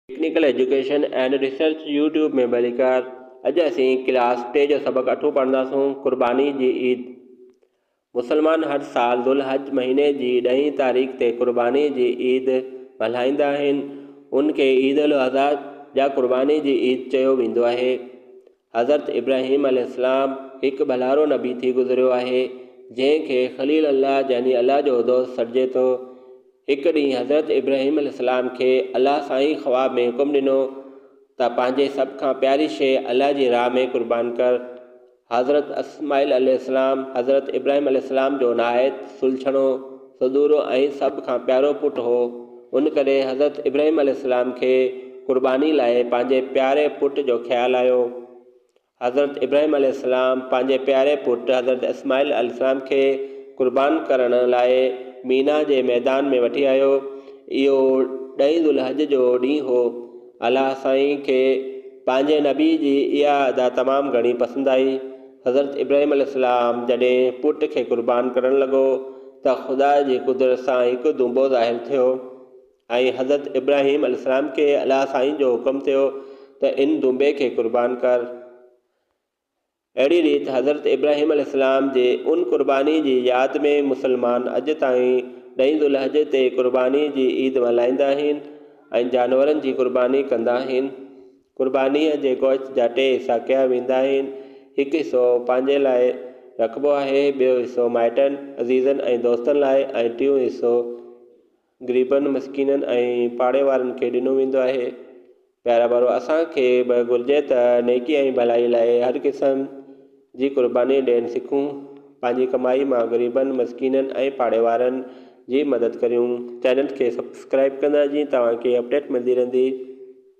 Technical education and research YouTube ۾ ڀليڪار اڄ اسين ڪلاس ٽي جو سبق اٺون پڙهنداسون قرباني جي عيد مسلمان هر سال ذوالحج مهيني جي ڏهين تاريخ تي قرباني جي عيد ملهائيندا آهن ان کي عيد الاضحيٰ يا قرباني جي عيد چيو ويندو آهي حضرت ابراهيم عليه السلام هڪ ڀلارو نبي ٿي گذريو آهي، جنهن کي خليل الله يعني الله جو دوست سڏجي ٿو. هڪ ڏينهن حضرت ابراهيم عليه السلام کي الله سائين خواب ۾ حڪم ڏنو ته پنهنجي سڀ کان پياري شيء الله جي راهه ۾ قربان ڪر. حضرت اسماعيل عليه السلام حضرت ابراهيم عليه السلام جو نهايت سلڇڻو. سدورو ۽ سڀ کان پيارو پٽ هو، ان ڪري حضرت ابراهيم عليه السلام کي قرباني لاء پنهنجي پياري پٽ جو خيال آيو. حضرت ابراهيم عليه السلام پنهنجي پياري پٽ حضرت اسماعيل عليه السلام کي قربان ڪرڻ لاء مينا جي ميدان ۾ وٺي آيو. اهو ڏهين ذوالحج جو ڏينهن هو. الله سائين کي پنهنجي نبي جي اها ادا تمام گهڻي پسند آئي. حضرت ابراهيم عليه السلام جڏهن پٽ کي قربان ڪرڻ لڳو ته خدا جي قدرت سان هڪ دونبو ظاهر ٿيو ۽ حضرت ابراهيم عليه السلام کي الله سائين جو حڪم ٿيو ته ان دونبي کي قربان ڪر. اهڙي ريت حضرت ابراهيم عليه السلام جي ان قرباني جي ياد ۾ مسلمان اڄ تائين ڏهين ذوالحجه تي قرباني جي عيد ملهائيندا آهن ۽ جانورن جي قرباني ڪندا آهن. قربانيء جي گوشت جا ٽي حصا ڪيا ويندا آهن، هڪ حصو پنهنجي لاء رکبو آهي، ٻيو حصو مائٽن، عزيزن ۽ دوستن لاء ۽ ٽيون حصو غريبن، مسڪينن ۽ پاڙي وارن کي ڏنو ويندو آهي. پيارا ڀائرو! اسان کي به گهرجي ته نيڪي ۽ ڀلائي لاء هر قسم جي قرباني ڏيڻ سکون، پنهنجي ڪمائي مان غريبن، مسڪينن ۽ پاڙي وارن جي مدد ڪريون. چينل کي سبسڪرائيب ڪندا جيئن توهان کي اپڊيٽ ملندي رهندي.